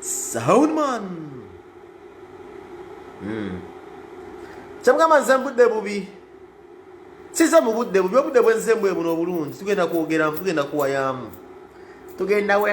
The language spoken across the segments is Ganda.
Sahuman hmm. kyamugamba nze mbudde bubi siza mu budde bubi obudde bwenze mbwe buno obulungi tugenda kwogeramu tugenda kuwayamu tugenda we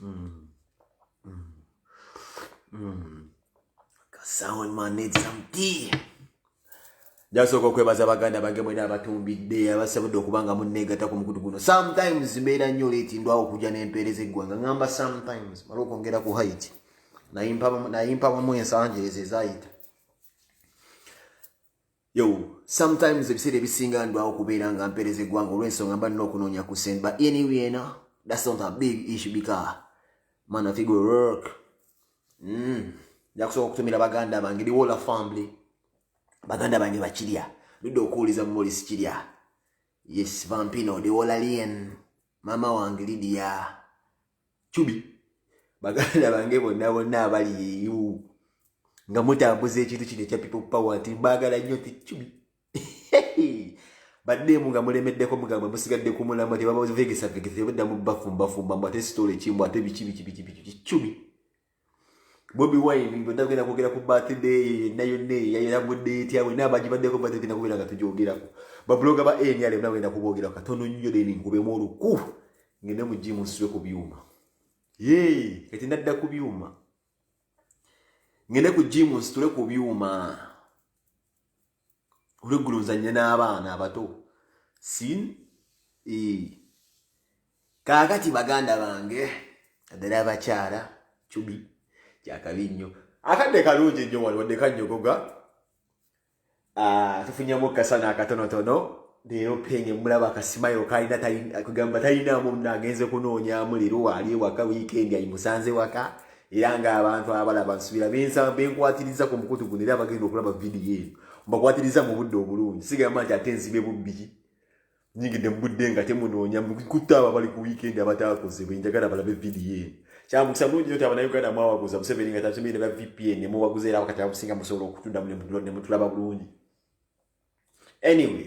Mm. Mm. Mm. Someone man need some tea. Jasooka okwebaza baganda bange mwena abatumbidde abasabudde okuba nga munneegatako mukutu guno sometimes mbeera nnyo leeti ndwawo okujja n'empeereza eggwanga ngamba sometimes mala okwongera ku hait nayimpabamu ensangi ezo ezayita Yo, sometimes ebiseera ebisinga ndwawo kubeera nga mpereza eggwanga olw'ensonga mba nina okunoonya ku sente but anyway na that's not a big issue because man afi go work mm. njakusooka okutumira baganda bange liwola family baganda bange bakirya ludde okuwuliza mumolisi kirya yes vampino liwola lien maama wange lidia cubi baganda bange bonna bonna abali eyo nga mutambuza ekintu kino ekya people power nti mbagala nnyo nti cubi baddeemu nga mulemeddeko mugamba musigadde ku mulamwa tebabavegesavegesa tebadda mu bafumba fumba mbu ate sitoola ekimu ate biki biki biki biki cubi bobi wine bwetagenda kwogera ku birthday yonna yonna eyayeragudde etya wena abagibaddeko birthday genda kubeera nga tugyogerako babuloga ba nr bona wenda kubogera katono nnyo deni nkubemu oluku ngende mu jimu nsitule ku byuma ye kati nadda ku byuma ngende ku jimu nsitule ku byuma olweggula ozannya n'abaana abato sin kaakati baganda bange addala abakyala cubi kyakabi nnyo akadde kalungi nnyo wali wadde kanyogoga ah, tufunyamu kasana akatonotono leero penge mulaba akasimayo kalina kugamba talinamu nagenze kunoonyamu leero waali ewaka wiikendi ayimusanze waka era ng'abantu abalaba nsubira benkwatiriza ku mukutu guno era abagenda okulaba vidiyo eno mbakwatiriza mu budde obulungi sigamba nti ate nzibe bubbi nyigidde mu budde nga temunoonya mukutta abo abali ku wiikendi abataakoze bwe njagala balabe vidiyo eno kyamukisa bulungi nyo ti abanauganda mwawaguza museveni nga tatumire ba vpn nemuwaguza era wakati abusinga musobola okutuddamu nemutulaba bulungi anyway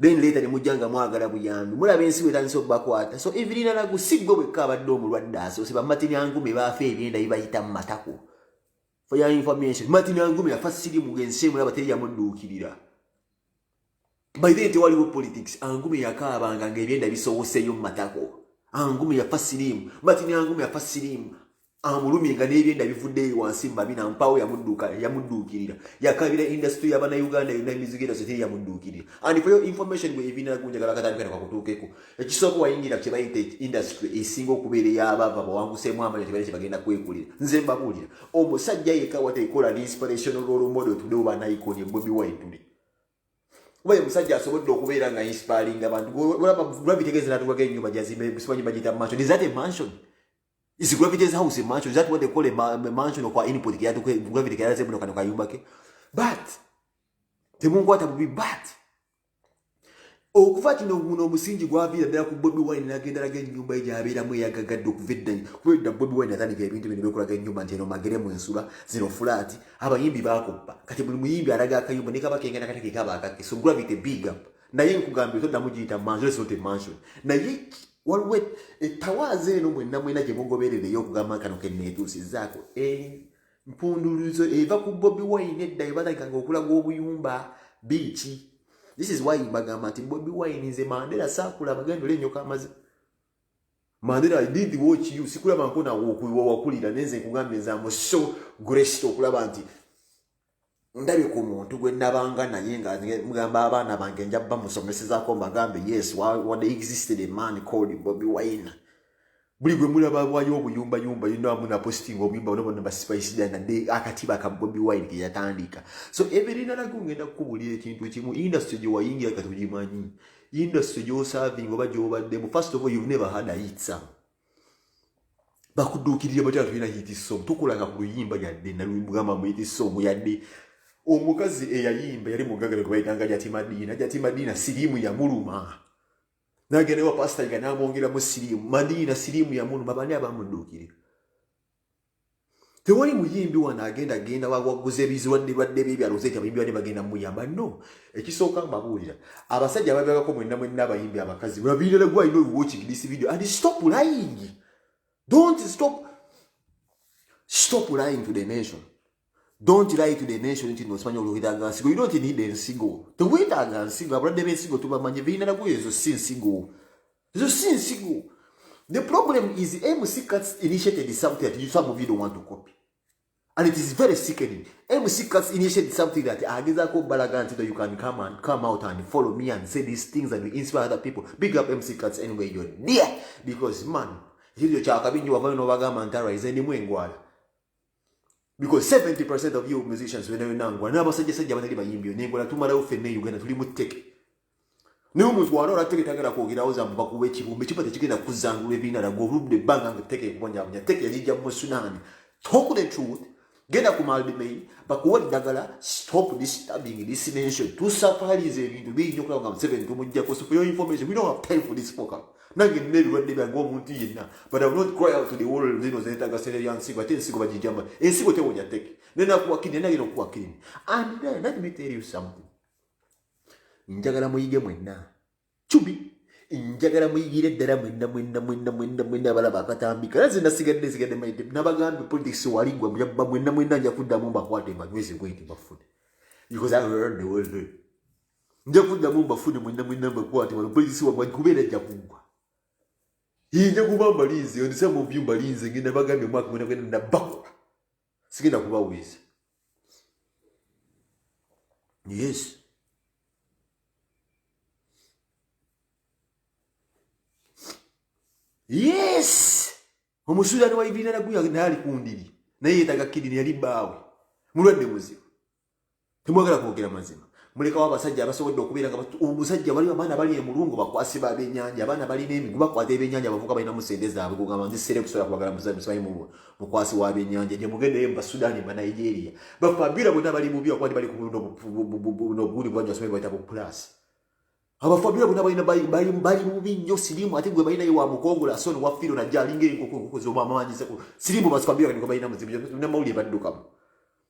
then later ne mujja nga mwagala buyambi mulaba ensi wetandisa okubakwata so evirinalagu si gwe bwekka abadde omulwadde asoose bamatinyangume baafa ebyenda bibayita mu matako for your information matinyangume yafa sirimu ngensi emulaba teri yamudduukirira by then tewaliwo politics angume yakaabanga ngaebyenda bisowoseyo mu matako angume yafa sirimu matinyangume yafa sirimu amulumye nga n'ebyenda bivuddeyo wansi mumabina mpaawo yamudduka yamudduukirira yakabira indasitry yabanauganda yonna emizigo era zete yamudduukirira and for your information gwe ebiina gunjagala katandikana kwakutuukeko ekisooka wayingira kye bayita indasitry esinga okubeera eyabaava bawanguseemu amanya tebaina kye bagenda kwekulira nze mbabuulira omusajja yekka watekola ne inspirational role model tudewo banaikoni bobi wine today kuba ye musajja asobodde okubeera nga inspiringa abantu olaba gravity gezi natuwako enyumba gyazimba simanyi bagiyita mansion is that a mansion Is Gravity's house a mansion? Is that what they call a, ma a mansion or input? Gravity can say, "But can you back it?" But the moon water will be bad. okuva kino guno omusingi gwaviira ddala ku bobi wine nagenda laga enyumba ye gyabeeramu eyagagadde okuva eddanyi kubedda bobi wine atandika ebintu bino byekulaga enyumba nti eno magere mu ensula zino fulaati abayimbi bakoppa kati buli muyimbi alaga akayumba nekaba kengana kati kekaba akake so gravity big up naye nkugambye toddamu giyita mansion is not a mansion naye waliwo etawaaza eno mwenna mwena gye mugoberereyo okugamba kano keneetuusizaako empunduluzo eh, eva ku bobi wine edda ebalaga nga okulaga obuyumba biiki this is why bagamba nti bobi wine nze mandera saakula abagendo lenyoka amazi mandera i did watch you sikulaba nkonawo okuiwa wakulira nenze nkugambye nze amuso grest okulaba nti ndabye ku muntu gwe nabanga naye nga mugamba abaana bange nja bamusomesezako mbagambe yes wade existed a man called bobi wine buli gwe mulaba wayo obuyumba yumba yino amu na posting obuyumba bano bano basipaisida na de akatiba ka bobi wine ke yatandika so every nana ku ngenda kubuli ekintu kimu industry gye wayingira katujimanyi industry gyo serving oba gyo badde first of all you've never had a hit song bakuduukirire batya tulina hiti song tukulanga ku luyimba yadde nalugamba mu hiti song yadde omukazi eyayimba yali mugagale gwebayitanga jatimadiina jatimadiina siriimu yamuluma nagenda ewa pasita nga namwongeramu siriimu madiina siriimu yamuluma bani abamuduukirira tewali muyimbi wano agenda genda wawaguza ebizirwadde lwadde byebyalo zeti abayimbi bane bagenda muyamba no ekisooka mbabuulira abasajja ababyagako mwenna mwenna abayimbi abakazi babirala gwa ino watching this video and stop lying don't stop stop lying to the nation don't lie to the nation nti nosimanya oluhiraga nsigo you don't need ensigo tewetaaga nsigo abalwadde bensigo tubamanyi birina nagoyo ezo si nsigo ezo si nsigo the problem is mc cats initiated something that you some of you don't want to copy and it is very sickening mc cats initiated something that agezako balaga nti that you can come and come out and follow me and say these things and you inspire other people big up mc cats anyway you're dear because man ekyo kyakabi nyo wavayo nobagamba nti araize ndimu engwala because 70% of you musicians wena wena ngwa na basajja sajja batali bayimbi ne ngola tumala ufe ne Uganda tuli muteke ne omuntu wala ola teke tagera ko gira oza mba kuwe kibumbe kipata kigenda kuzangulu ebina na gorubde banga nga teke mbonya mbonya teke yajija mu sunani talk the truth genda ku malbi me bakuwa dagala stop this stabbing this nation to surprise ebintu binyo kwa nga 7 tumujja ko so for your information we don't have time for this program nange nina ebirwadde byange omuntu yenna but iv not cry out to the world zino zenetaga sente ya nsigo ate ensigo bagijama ensigo tewonya teke nenakuwakini enagenda okuwakini and then let me tell you something njagala muyige mwenna cubi njagala muyigire ddala mwenna mwenna mwenna mwenna mwenna abalaba akatambi kala ze nasigadde nsigadde maite nabagambye politics waligwa muyabba mwenna mwenna nja kuddamu mbakwate mbanyweze bwenti bafune because i heard the world nja kuddamu mbafune mwenna mwenna mbakwate wano polisi wamwe kubeera ajja kuggwa yinja kuba mbalinze ondisa mu vyu mbalinze ngenda bagambye omwaka gwena gwena nabakola sigenda kubawuliza yes yes omusuudani wa ibirina naguya naye ali kundiri naye yetaga kidini yali baawe mulwadde muzibu temwagala kwogera mazima mulekawo abasajja abasobodde okubeera nga omusajja waliwo abaana bali emulungu bakwasi babenyanja abaana balina emigu bakwata ebyenyanja bavuka balina mu sente zaabwe kugamba nzisere kusobola kubagala musaayi mukwasi wa byenyanja gye mugendeyo mubasudani mubanigeria bafabira bonna bali bubi akuba bali kubulinobundi bwanja someri baita bu plus abafabira bonna balina bali bubi nnyo sirimu ate gwe balinayo wa mukongola son wafiro najja alinga enkoko enkoko zobamaanyisa sirimu basfabira balina muzibu namawulire baddukamu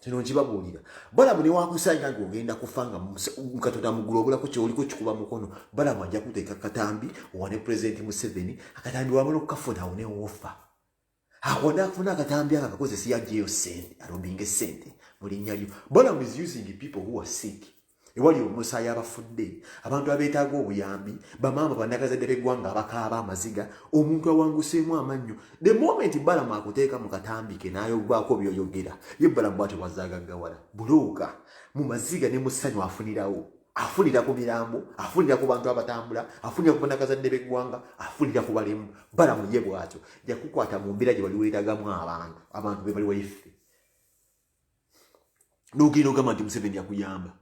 kino nkibabuulira balamu newakusanga nga ogenda kufa nga katonda mugulu obulako kyoliko kikuba mukono balamu ajja kuteeka katambi owane pulezidenti museveni akatambi wabala okukafuna awo newofa akonda akufuna akatambi ako akakozesa yajeyo sente alobinge sente mulinya lyo balamu is using people who are sick ewali omusaayi abafudde abantu abeetaaga obuyambi bamaama banagazadde beggwanga abakaaba amaziga omuntu awanguseemu amannyo the moment balamu akuteeka mu katambike nayobaako byoyogera ye balamu bwatyo bwazagaggawala bulooka mu maziga ne musanyu afunirawo afunira ku mirambo afunira ku bantu abatambula afunira ku banakazadde beggwanga afunira ku balemu balamu ye bwatyo jakukwata mu mbeera gye bali weetagamu abantu abantu bebali wayiffe nogenda ogamba nti museveni yakuyamba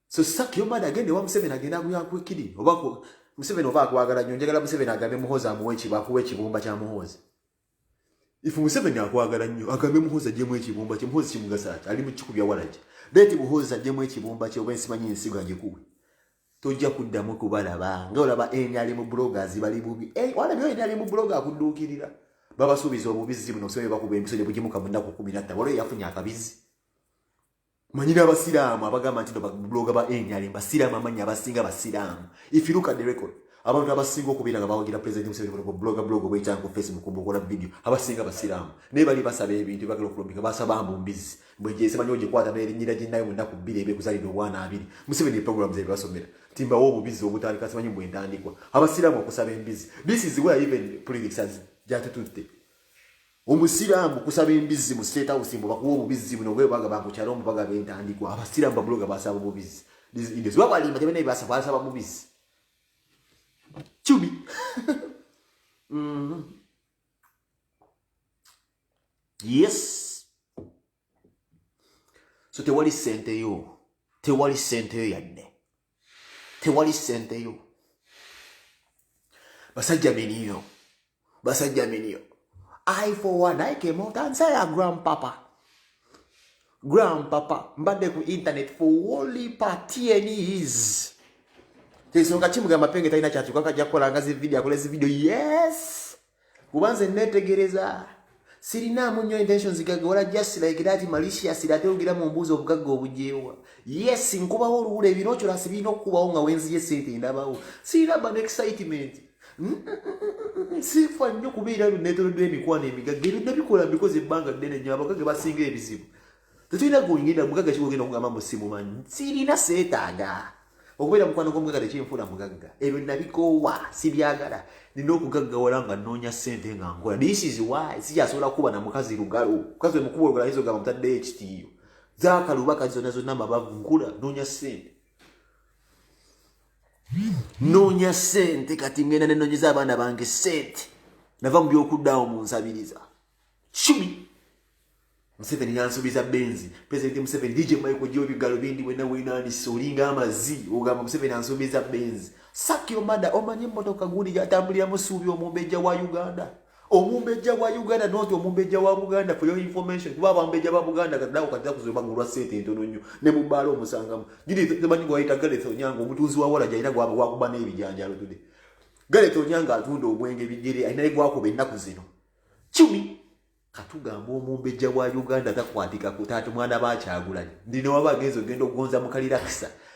so sak yomad agende wa museveni agenda akuyakwekiri oba museveni oba akwagala nyo njagala museveni agambe muhozi amuwa ekiba akuwa ekibumba kya muhozi ife museveni akwagala nnyo agambe muhozi ajemu ekibumba kye muhozi kimugasa ati ali mukikubya walagi deti muhozi ajemu ekibumba kye oba ensimanyi ensigo agikuwe tojja kuddamu kubalaba nga olaba nrm bloggers bali bubi eh, walabyo nrm blogger akudduukirira babasuubiza obubizzi buno osobole bakuba empiso gye bugimuka mu nnaku kumi natta waliwo yafunye akabizzi manyi n'abasiraamu abagamba nti babuloga ba nrm basiraamu amanyi abasinga basiraamu if you look at the record abantu abasinga okubeera nga bawagira president museveni ku bloga bloga obwekyanga ku facebook mukola video abasinga basiraamu naye bali basaba ebintu bagala okulombika basaba mbu mbizi bwejesemanyi ogikwata nerinyira ginayo munaku bbiri ebekuzalidde obwana abiri museveni eprogram zebasomera timbawo obubizi obutandika simanyi bwentandikwa abasiraamu okusaba embizi this is where even politics jatututte omusiraamu kusaba embizi mu state house mbu bakuwa obubizi buno bwe baga bakukyala omu baga bentandikwa abasiraamu babuloga basaba obubizi this is where balimba tebene basaba basaba obubizi chubi mm -hmm. yes so tewali sente yo tewali sente yo yadde tewali sente yo basajja miniyo basajja miniyo i for one i came out and say a grandpapa Grand papa mbadde ku internet for only pa tnes kyensonga kimuga mapenge talina kyatuka kajja kukola nga zi video akola zi video yes kuba nze netegereza sirinaamu nnyo intentions gaga wala just like that malicious ate ogira mu mbuuzi obugagga obujeewa yes nkubawo oluwula ebinokyola sibirina okukubawo nga wenziye sente ndabawo sirina bano excitement siifa nnyo kubeera bino neetonoddwa emikwano emigagga ebyo nabikola mbikoze ebbanga ddene nnyo abagagga basinga ebizibu tetulina gwongenda mugagga kiwogenda okugamba mu simumanyi sirina seetaaga okubeera mukwano gw'omugagga tekinfuula mugagga ebyo nabikoowa sibyagala nina okugaggawala nga nnoonya ssente nga nkola disizi wayi sikyasobola kuba na mukazi lugalo mukazi omukuba olugalo ayinza ogamba mutaddeyo ekitiiyo zaakaluba kati zonna zonna mabavu nkula nnoonya ssente noonya sente kati ngenda nenonyeza abaana bange sente nava mu byokuddawo mu nsabiriza kikumi museveni yansubiza benzi president museveni dj michael jobi galubindi wena wenanise olinga amazi ogamba museveni ansubiza benzi sakyo mada omanye emotoka guli yatambulira musuubi omumbejja wa uganda omumbejja wa uganda not omumbejja wa buganda for your information kuba abambejja ba buganda kadawo kati akuzima nga olwa sente entono nnyo ne mu bbaala omusangamu giri temanyi gwayita garet onyanga omutunzi wa wala gyalina gwakuba n'ebijanjalo tude garet onyanga atunda obwenge bigere alina egwakuba ennaku zino cumi katugamba omumbejja wa uganda takwatikako taata mwana bakyagulanye ndinowaba agenza ogenda okugonza mukalira kisa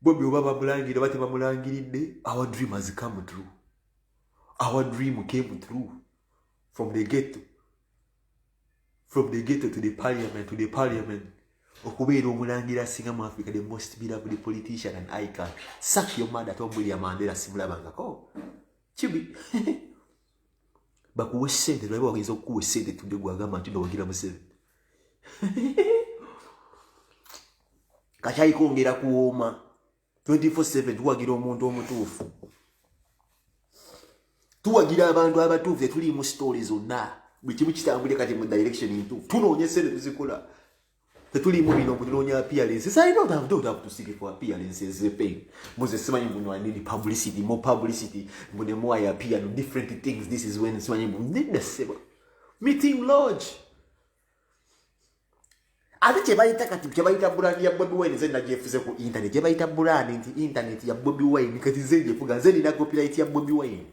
bobi oba bamulangirira oba tebamulangiridde our dream has come true our dream came true from the gate from the gate to the parliament to the parliament okubeera omulangira asinga mu africa the most beloved politician and icon sak your mother tom william mandela simulabangako kibi bakuwe sente naye bawagenza okukuwa esente tudde gwagamba nti nowagira museveni kakyayi kongera kuwooma 24/7 tuwagira omuntu omutuufu tuwagira abantu abatuufu etuliimu sitoole zonna buli kimu kitambulire kati mu direction ntuufu tunoonya esente tuzikola tetuliimu bino kutunoonya appearances i don't have, don't have to seek for appearances pain muze simanyi mbuno i need publicity more publicity mbune more i appear no different things this is when simanyi mbu ndidda sebo meeting lodge ate kyebayita kati kyebayita brand ya bobi wine zena gyefuze ku internet kyebayita brand nti internet ya bobi wine kati zena gyefuga nze nina copyright ya bobi wine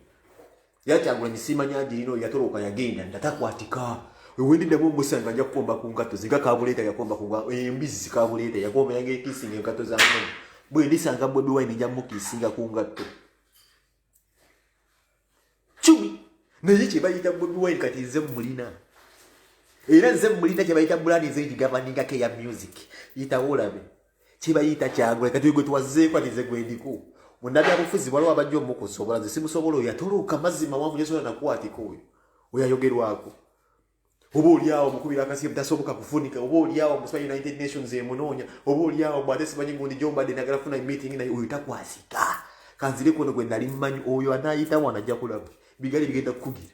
era kyagulanyi simanya agirina oyo yatoloka yagenda ndatakwatika wendi damu omusanga nja kukomba ku ngatto zinga kabuleeta yakomba ku embizzi kabuleeta yakomba yange ekisinga engatto za mwana bwe ndisanga bobi wine nja mukisinga ku ngatto cumi naye kyebayita bobi wine kati nze mulina era nze mulina kyebayita bulani nze ngigabaningako eya music yitawo olabe kyebayita kyagula kati gwe twazeeko ati nze gwendiko munnabyabufuzi waliwo abajja omukusobola nze simusobola oyo yatoloka mazzi mawanvu nyesobola nakwatiko oyo oyo ayogerwako oba olyawo mukubira akasiye butasoboka kufunika oba olyawo musiba united nations emunoonya oba olyawo bwate simanyi gundi gyombadde nagala funa meeting naye oyo takwasika kanzireko no gwe nali mmanyi oyo anaayitawo anajja kulaba bigali bigenda kukugira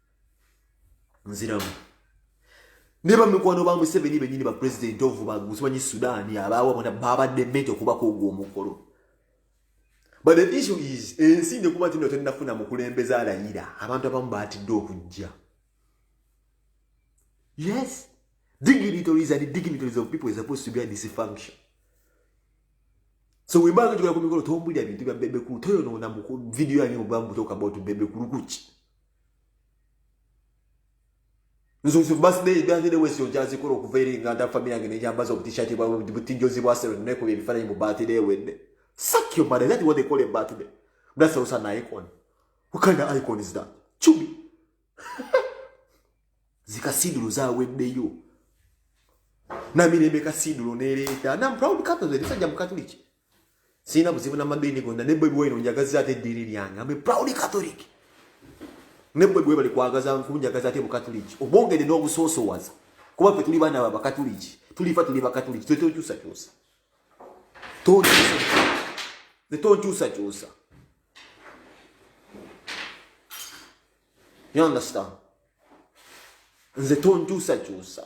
nziramu naye bamikwano ba museveni benyini ba president of bagusimanyi sudan abaawa bona babadde mento okubako ogwo omukolo but the issue is ensi nekuba tino tennafuna mukulembeza alayira abantu abamu batidde okujja yes dignitaries and dignitaries of people is supposed to be a dysfunction so webanga tukula ku mikolo tombulira bintu bya bebekulu toyonoona mu video yange mu bulamu butoka about bebekulu kuki nzuzu birthday birthday wese ogyazikola okuva eri nga nta family yange nejambaza obutishati bwa butinjozi bwa sero ne kubi bifana mu birthday wende suck your mother that what they call a birthday that's also an icon what kind of icon is that chubi zika sidulu za wende yo na mimi nebe ka sidulu neleta na proud catholic sasa jamu catholic sirina buzibu n'amadiini gonna ne bwebi waino njagaza ate eddiini lyange ambe proud catholic ne bwebi webali kwagaza nkunjagaza ate bukatuliki obwongede n'obusoosowaza kuba ffe tuli baana babakatuliki tulifa tuli bakatuliki tokyusakyusa tonkyusakyusa you understand nze tonkyusakyusa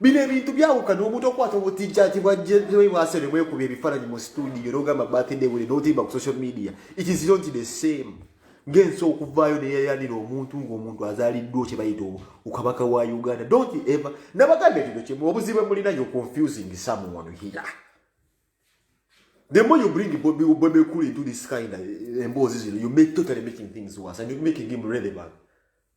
bino ebintu byawukana omuntu okwata obutijjati bwajjebwase ne bwekuba ebifaananyi mu situdiyo n'ogamba birthday wuli n'otimba ku social media it is not the same ng'ensi okuvaayo neyeyanira omuntu ng'omuntu azaaliddwa kye bayita okabaka wa uganda don't ever nabaganda ekino kimu obuzibu emulina yo confusing someone here the more you bring bobi bobi cool into this kind of eh, emboozi zino you make totally making things worse and you making him relevant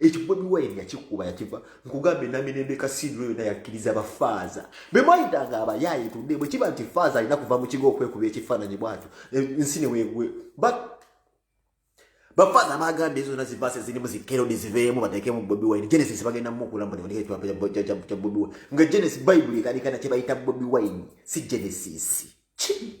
ekyo bobi wine yakikuba yakiva nkugambe namirembe kasiidiro yona yakkiriza bafaaza bemwayitanga abayaaye tudde bwe kiba nti faaza alina kuva mu kigo okwekuba ekifaananyi bwatyo ensi newegwe but bafaaza bagamba ezo zona zivaasi zirimu zikerodi ziveemu bateekemu bobi wine genesis bagenda mukulambuneonekekya bobi wine nga genesis bayibuli ekanikana kye bayita bobi wine si genesis kii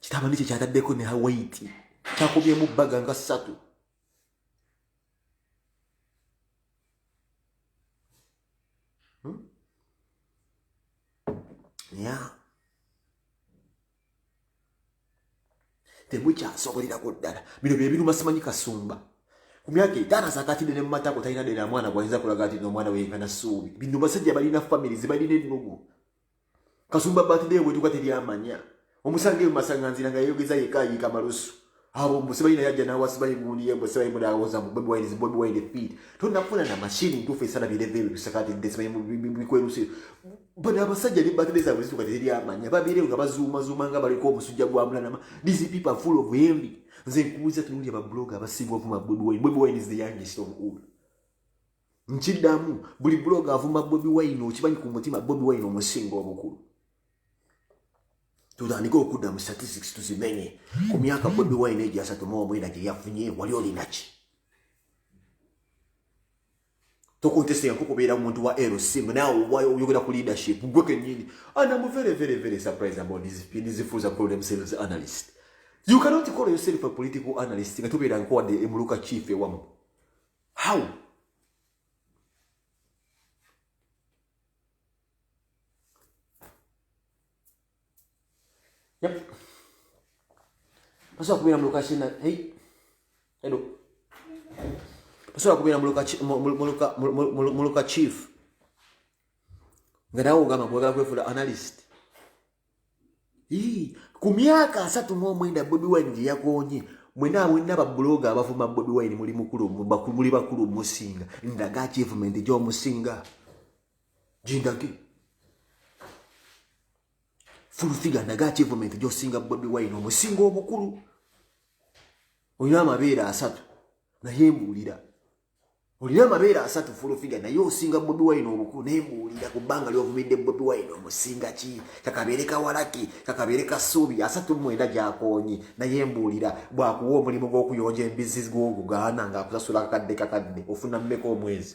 kitaba nikyo kyataddeko ne hawaiti kyakubyemu bbaga nga ssatu hmm? ya temukyasobolera ku ddala bino byebiruma simanyi kasumba ku myaka etaano asakatidde ne mumatako talina dena mwana gwayinza kulaga ati nomwana weyenkana suubi bino basajja balina famiri zibalina ennugu kasumba birthday bwetuka teri amanya omusanga eyo masanganzira nga yeyogeza yeka ayiika malusu abo mbu sibayi naye ajja nawa sibayi gundi ye mbu sibayi mudawoza mbu bobi wine bobi wine feed tonafuna na mashini ntuufu esala bireve ebyo bisakati nde sibayi bikweruse bano abasajja ne birthday zabwe zituka teri amanya babireyo nga bazuumazuuma nga baliko omusujja gwa mulanama these people are full of envy nze nkubuuza tunuulya babloga abasiibwa vuma bobi wine bobi wine is the youngest of all nkidamu buli blog avuma bobi wine okimanyi ku mutima bobi wine omusinga obukulu tutandike okudda mu statistics tuzimenye ku myaka bobi wine egyo asatu mu omwenda gye yafunye wali olinaki tokontestinga ko kubeera muntu wa lc nawe oyogera ku leadership gwe kenyini and am very very very surprised about these people these fools are called themselves analyst you cannot call yourself a political analyst nga tubeera nkowadde emuluka chief ewamu how yep pasobola kubeera mu luka kina hey hello pasobola kubeera mu luka mu luka chief nga nawe ogamba kwagala kwefula analyst ku myaka asatu mu omwenda bobi wine gye yakoonye mwena awena babuloga abavuma bobi wine muli mukulu muli bakulu musinga ndaga achievement gyomusinga jindage fulfiga ndaga achievement gyosinga bobi wine omusinga obukulu olina amabeere asatu naye mbuulira olina amabeere asatu fulufiga naye osinga bobi wine obukulu naye mbuulira ku bbanga lyovumidde bobi wine omusinga ki kakabeere kawalaki kakabeere ka suubi asatu mwenda gyakoonyi naye mbuulira bwakuwa omulimu gw'okuyonja embizzi gwogugaana ng'akusasula akakadde kakadde ofuna mmeka omwezi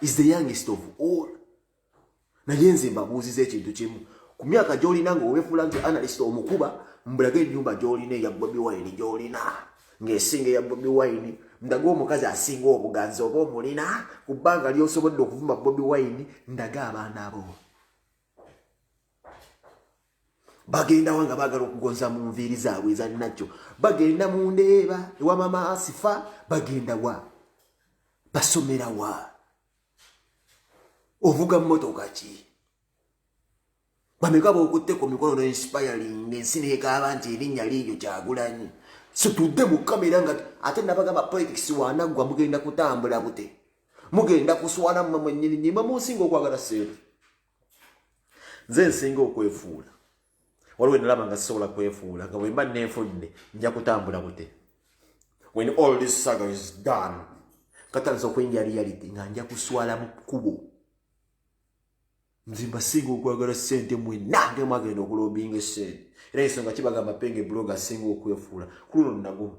is the youngest of all naye nze mbabuuziza ekintu kimu ku myaka gyolina nga obefuula nti analyst omukuba mbulaga enyumba gyolina eya bobi wine gyolina ngaesinga eya bobi wine ndaga omukazi asinga obuganzi oba omulina ku bbanga lyosobodde okuvuma bobi wine ndaga abaana bo bagendawa nga bagala okugonza mu nviiri zaabwe ezanakyo bagenda mu ndeeba ewa mama asifa bagendawa basomerawa ovuga mumotoka ki bameka bokutte ku mikono no inspiring ensi nekaaba nti erinnya liiyo kyagulanyi situdde mu kamera nga ate nabagamba politics wanaggwa mugenda kutambula bute mugenda kuswala mwe mwenyini nyimwe munsinga okwagala sente nze nsinga okwefuula waliwo enalaba nga sisobola kwefuula nga bwemba nenfunne nja kutambula bute when all this saga is done katandisa okuyingira reality nga nja kuswala mu kkubo nze mbasinga okwagala sente mwena nge mwagenda okulombinga esente era ensonga kibagamba penge bloga asinga okwefuula kuluno nagumu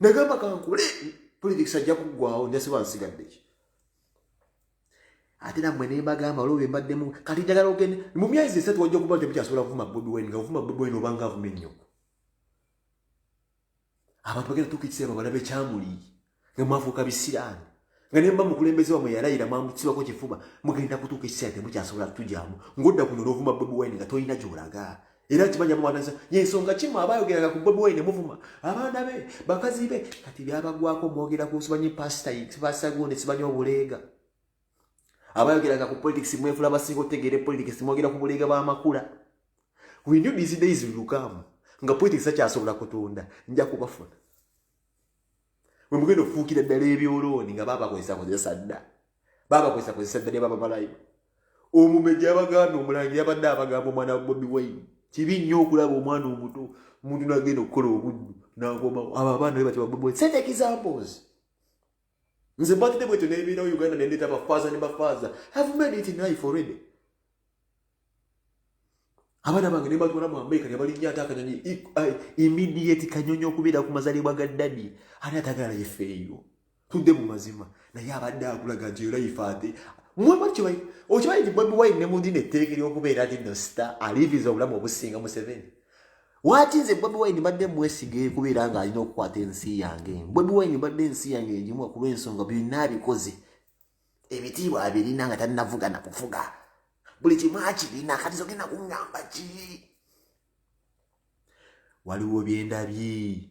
nagamba kankole politics ajja kuggwawo njasiba nsigaddeki ate namwe nembagamba olwo bembaddemu kati njagala ogende mu myezi esatu wajja okuba nti mukyasobola kuvuma bobi wine nga ovuma bobi wine obanga avuma ennyo abantu bagenda tuuka ekiseera babalabe kyamuli nga mwafuuka bisiraani nga nemba mukulembeze wamwe yalayira mwamutsibako kifuba mugenda kutuuka ekiseera temukyasobola kutugyamu ngodda kuno n'ovuma bobi wine nga tolina gyolaga era kimanya muwanasa yensonga kimu aba ayogeranga ku bobi wine muvuma abaana be bakazi be kati byabagwako mwogera ku simanyi pasita pasita gundi simanyi obuleega aba ayogeranga ku politics mwefula basinga otegeere politics mwogera ku buleega b'amakula we knew these days will come nga politics akyasobola kutunda nja kubafuna we mugenda okufuukira ddala ebyolooni nga baabakozesa kozesa dda baabakozesa kozesa dda ne babamalayo omumeja abaganda omulangi yabadde abagamba omwana wa bobi wayini kibi nnyo okulaba omwana omuto omuntu nagenda okukola obuddu nakomawo abo abaana be batya babobi wayini sente examples nze mbagide bwetyo nebeerawo uganda nendeeta bafaaza ne bafaaza have made it knife already abaana bange nebatwala mu amerika nebalinya ate akanyonyi immediate kanyonyi okubeera ku mazalibwa ga dadi ani atagala yefe eyo tudde mu mazima naye abadde akulaga nti olayife ate okimanyi nti bobi wine ne mundi netteeka eryokubeera nti no star aliviza obulamu obusinga museveni Waki nze Bobi Wine mbadde mwesiga ekubeera nga alina okukwata ensi yange. Bobi Wine mbadde ensi yange egimu okuba ensonga byonna abikoze. Ebitiibwa abirina nga tannavuga na kufuga. Buli kimu akirina kati zogenda kungamba ki? Waliwo byendabye.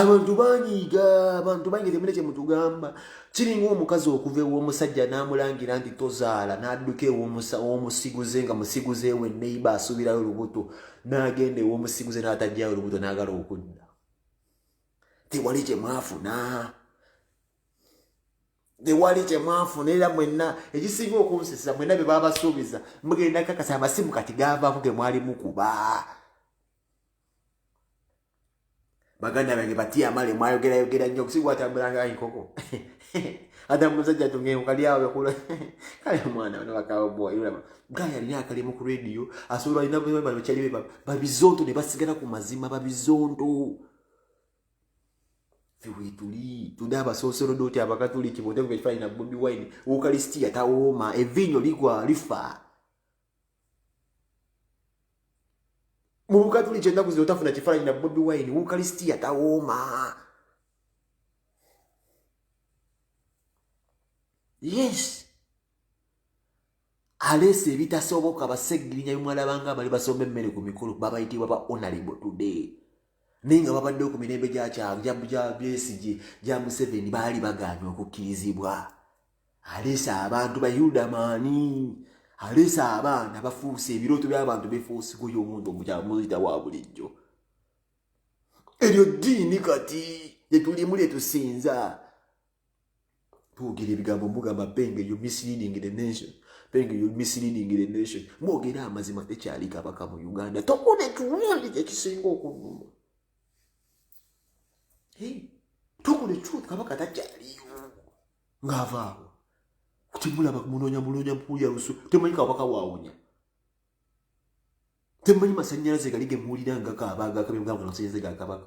abantu banyiiga abantu banyiiga temune kye mutugamba kiringa omukazi okuva ew'omusajja n'amulangira nti tozaala n'adduka ew'omusiguze nga musiguze we neiba asuubirayo olubuto n'agenda ew'omusiguze n'atajjayo olubuto n'agala okudda tewali kye mwafuna tewali kyemwafuna era mwenna ekisinga okunsesa mwenna bye babasuubiza mugenda kakasa amasimu kati gavaako ge mwali mukuba baganda bange batya amale mwayogerayogera nnyo okusiga watambulanga enkoko ate musajja tungengo kali awo bekula kale omwana bano bakawo boy ulama gaya ni akali mu radio asoro ina bwe bano chali beba babizondo ne basigala ku mazima babizondo wetuli tuli abasoosolodooti abakatuliki bonteko bekifaanyi na bobi wine ukalisitiya tawooma eviinyo ligwa lifa mu bukatuliki ennaku zino tafuna kifaananyi na bobi wine ukalisitiya tawooma yes aleese ebitasoboka baseggirinya bimwalabanga abali basomba emmere ku mikolo babayitibwa ba onalebo today naye nga babaddewo ku mirembe gyakyagyabesigye gya museveni baali bagaanye okukkirizibwa aleese abantu bayudamaani aleese abaana bafuuse ebirooto by'abantu befuusiguyo omuntu omukyamuzita wa bulijjo eryo ddiini kati lyetulimu lyetusinza twogera ebigambo mugamba penge you misleading the nation penge you misleading the nation mwogera amazima tekyali kabaka mu uganda tokuna ekiwundi kyekisinga okunuma tokuna ekiwundi kabaka takyaliyo ngaavaawo kutimulaba munonya munonya mpuya lusu temanyi kabaka wawonya temanyi masanyalaze gali gemuwulira ngakaaba agakabye mugamba masanyalaze gakabaka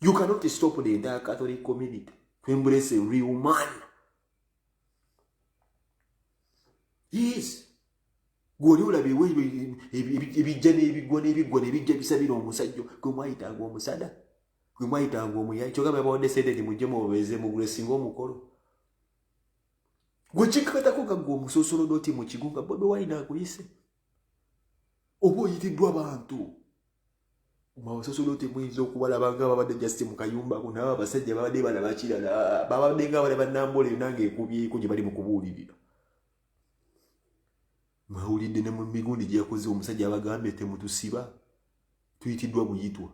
You cannot stop the entire Catholic community to embrace a real man. Yes. Gwoli ulabe we ebijja n'ebigwa n'ebigwa n'ebijja bisabira omusajjo gwe mwayitanga omusada gwe mwayitanga omuyayi kyogamba yabawadde sente nti mujje mubeeze mugule singa omukolo gwe kikakatako gaggwa omusosolo doti mu kigo nga bobi wayina akuyise oba oyitiddwa bantu mawasosolote muyinza okubalaba nga babadde just mu kayumba ku naaba abasajja babadde balaba kirala babadde nga balaba nambola yona nga ekubyeko gye bali mu kubuulirira mwawulidde ne mu migundi gye yakoze omusajja abagambye temutusiba tuyitiddwa buyitwa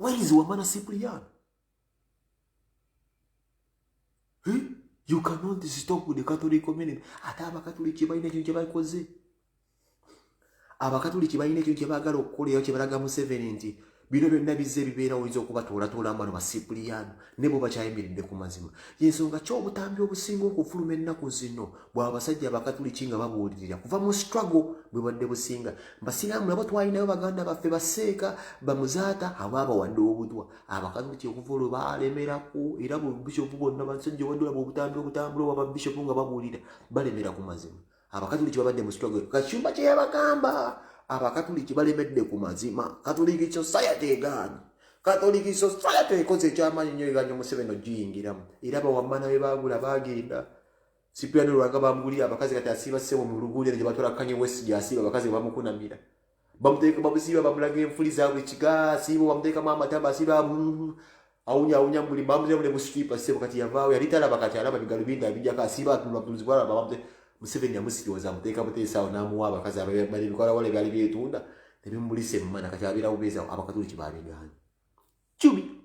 where is wamana cyprian Eh? You cannot stop with the Catholic community. Ate abakatuliki balina ekintu kyebakoze. Abakatuliki balina ekintu kyebagala okukola era kyebalaga Museveni nti bino byonna bizze bibeera oyinza okubatoolatoolamu bano basipuliyaano ne bo bakyayimiridde ku mazima yensonga ki obutambi obusinga okufuluma ennaku zino bwa basajja abakatuliki nga babuulirira kuva mu struggle bwe badde businga basiraamu nabo twalinayo baganda baffe baseeka bamuzaata abaabawadde obutwa abakazi buli kyokuva olwo balemerako era bubishopu bonna basajja obaddolaba obutambi obutambula oba babishopu nga babuulira balemera ku mazima abakatuliki babadde mu struggle kacumba kye yabagamba abakatuliki balemedde ku mazima katuliki society egaanyi katoliki society ekoze ekyamanyi nyo eganya omuseveni ogiyingiramu era bawamana be bagula bagenda sipiano lwanga bamugulira abakazi kati asiba sebo mu luguulira gye batwala kanye west gyasiba abakazi bamukunamira bamuteeka bamusiiba bamulaga enfuli zaabwe kiga siibo bamuteekamu amatama asiba awunya awunya muli bamuteekamu ne busikipa sebo kati yavaawo yali talaba kati alaba bigalubindi abijjako asiba atunula butunuzi bwalaba bamute museveni yamusirioza amuteeka buteesaawo n'amuwa abakazi abamali bikolawala ebyali byetunda nebimulisa emmana kati abeera bubeezawo abakatuliki babigaana kibi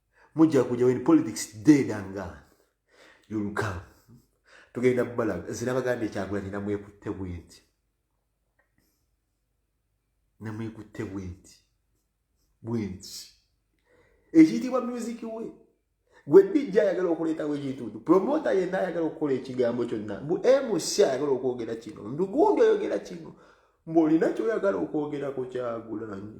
mujja kuja when politics dead and gone you'll come tugenda mubalaga nze nabagambye kyagulanyi namwekutte bwenti namwekutte bwenti bwenti ekiyitibwa music we gwe dijja ayagala okuleetawo ekintu nti promota yenna ayagala okukola ekigambo kyonna mbu mc ayagala okwogera kino ndugundi oyogera kino mbu olina kyoyagala okwogerako kyagulanyi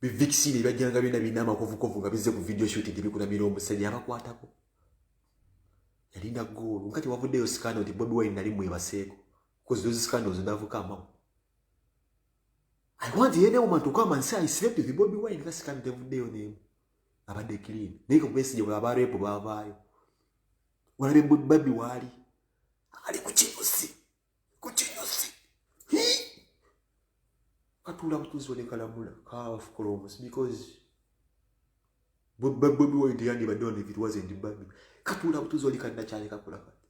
bivikisini ebyajjanga byona birina amakovukovu nga bizze ku video shot nti bikutamira omusajja abakwatako yalina goolu nga tewavuddeyo sikanda nti bobi wine nali mwebaseeko because those scandals ndavuka amamu i want any woman to come and say i slept with bobi wine nga sikanda tevuddeyo nemu abadde clean naye kakubesigye bwe abareepo bavaayo walabe babi waali ali ku kibusi ku kinyusi katuula butuuzi ne kalamula kaafukola omusi because bobi wine yandibadde on if it wasn't babi katuula butuuzi oli kannakyale kakula kati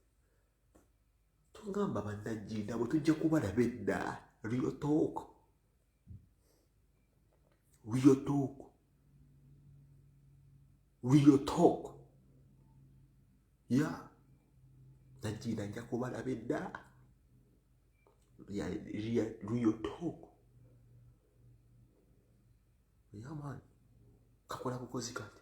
tugamba bannajjinda bwe tujja kubalaba edda real talk Real talk. Real talk. Yeah. Najina nja kubala bedda. Yeah, real, real talk. Yeah man. Kakola bukozi kati.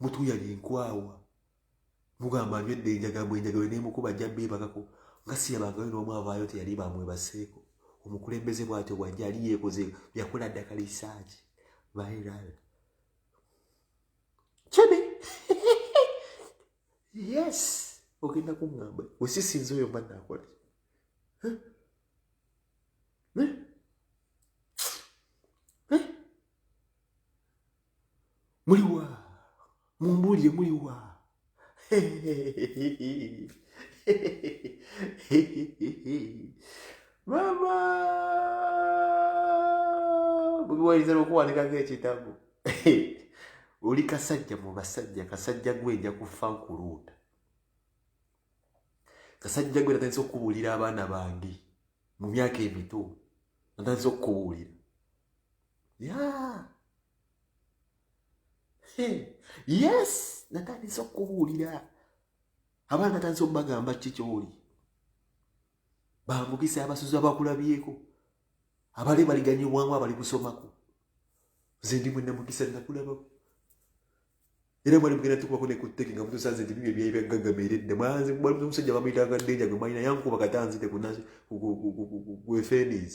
mutuyali enkwawa mugamba nywedde enjagambwa enjagalo nemukuba ajja beebagako nga siyabangayo n'omu avaayo nti yali bamwebaseeko omukulembeze bwatyo bwajja ali yeekoze yakola ddaka lisaaki viral kibi yes ogenda kuŋamba wesisinza oyo mba nakola muliwa mumbuulire muliwa mama bubiwayinza nokuwandikako ekitabo oli kasajja mu basajja kasajja gwe nja kufa nkuluuta kasajja gwe natandisa okukubuulira abaana bange mu myaka emito natandisa okukubuulira ya yes natandise okubuulira abaana natandise okubagamba kiki kyoli bambukisa abasuzi abakulabyeko abali baliganye obwangu abali kusomako nze ndi mwe namukisa nakulabako era mwali mugenda tukubako nekuteke nga mutusanze nti bibyo byebyaggagamere dda mwanze mwali omusajja bamuyitanga denja gwe mwalina yankuba katanzite kunfenis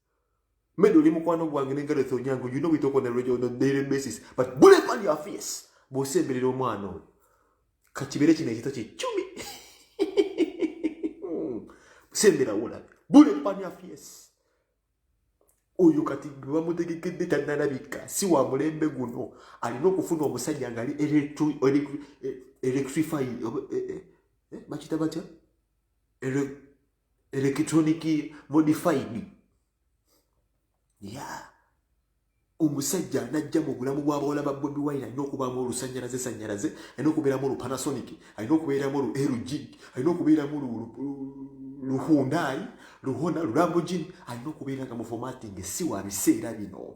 Made oli mukwano gwange ne Gareth Onyango, you know we talk on a regular, on a daily basis, but bullet on your face, bw'osemberera omwana oyo, ka kibeere kino ekito kye cumi, hmm. sembera wolabe, bullet on your face. Oyo kati gwe bamutegekedde tannalabika, si wa mulembe guno, alina okufuna omusajja ng'ali electrify, eh, eh, eh, bakita batya? electronic modified yeah omusajja anajja mu bulamu bw'abawala ba bobi wine alina okubaamu olusanyalaze sanyalaze alina okubeeramu olupanasonic alina okubeeramu olu lg alina okubeeramu luhundai luhona lulambogini alina okubeera nga mufomatinge si wa biseera bino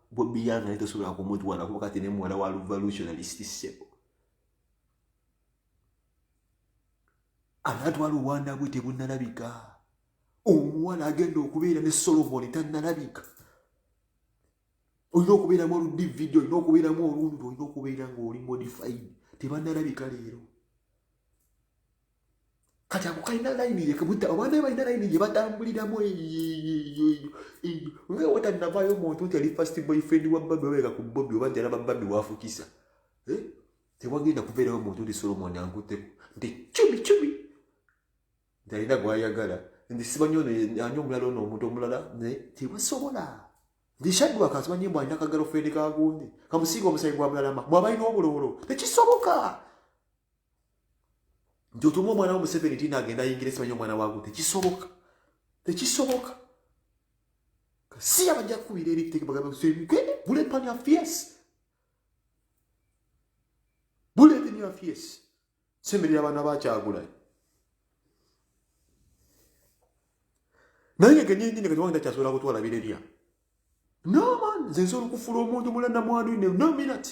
Bobi Young naye tosobola kumutwala kuba kati ne muwala wa revolutionalist ssebo anatwala obwana bwe tebunalabika omuwala agenda okubeera ne solomoni tanalabika olina okubeeramu oludividi olina okubeeramu olundi olina okubeera ngaoli modified tebanalabika leero kati ako kalina layini yekebutta abaana be balina layini gye batambuliramu nga watanavayo omuntu nti ali fast boyfriend wa babi wabeka ku bobi oba nti alaba babi wafukisa eh? tewagenda kubeerawo omuntu nti solomon ankutteko nti cumi cumi nti alina gwayagala nti simanyi ono ani omulala ono omuntu omulala naye tebasobola nti shadwaka simanyi mbu alina kagalo fredi kagundi kamusiinga omusayi gwa mulalama mwabalina obulowolo tekisoboka nti otumu omwana wo museveni ti nagenda ayingira esimanyi omwana wago tekisoboka tekisoboka si abajja kukubira ebitekebabulepanafs bulepanafs semerera abaana bakyagulayo naye ngegenyini kati wangenda kyasobola kutwala birerya no man nze nsobola okufula omuntu mulanamwanu ne no minute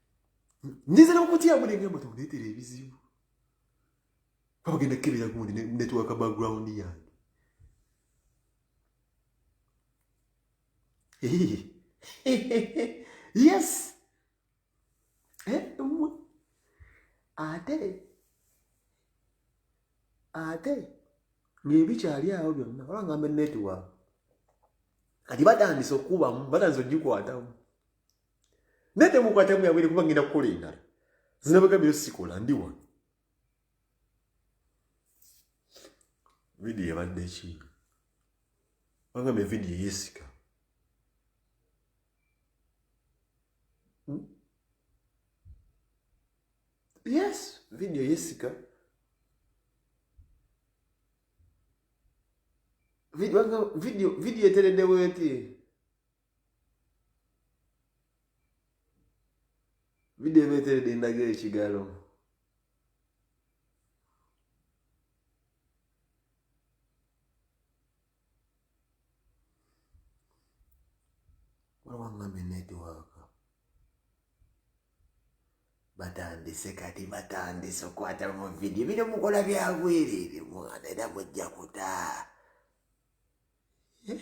nyiza nokutya mune ngamba tundetera ebizibu babagenda kukebera gundi netwaka background yange yes eh, ate ate ngaebikyali awo byonna olangamba network kati batandise okukubamu batandise okugikwatamu naye temukwatamu yabwere kuba ngenda kukola endala zinabaga byo sikola ndi wano vidiyo ebadde ekinga bagamba evidiyo yesika hmm? yes vidiyo yesika vidiyo etereddewo eti vidiyo eba eteredde endaga ekigalo wawangame netiwaaka batandise kati batandise okwata mu vidiyo bino mukola byabwerere mwana era mujja kutaa eh?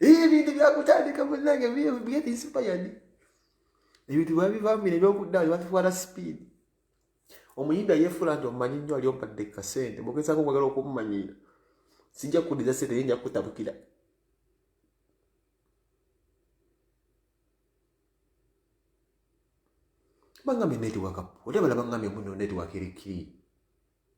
ebintu byakutandika munange get inspired ebintu bwabivambira ebyokudda nebatutwala sipiidi omuyinda yefuula nti omumanyi nnyo ali ompadde kasente mugezako okwagala okumumanyira sijja kukudiza sente ye nja kukutabukira bangambye netiwaka ote balabangambye muno netiwaka eri kiri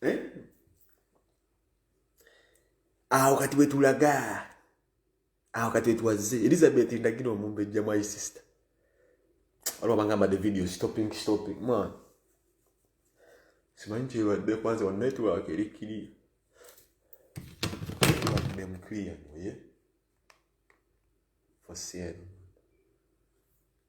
Eh? awo kati wetulaga awo kati wetwazze elizabeth ndagina omumbejja my sister waliwo bangamba the video stopping stopping mwana simanyi kyebadde kwanza wa network eri kiriya nemukiriya noye for sale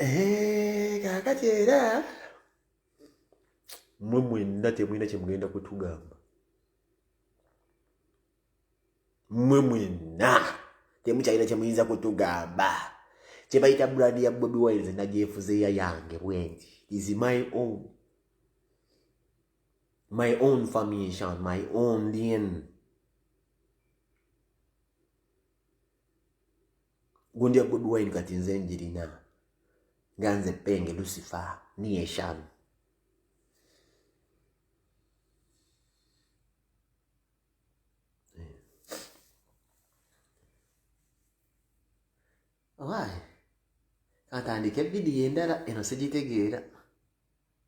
Eh, kakati era mwe mwenna temulina kyemugenda kutugamba mwe mwenna temukyalina kyemuyinza kutugamba kyebayita brand ya bobi wines nagyefuzeeya yange bwenti is my own my own formation my own lien gundya good wine kati nze njirina nga nze penge lucifer niyeshan Why? Atandike vidiyo endala eno sigitegeera.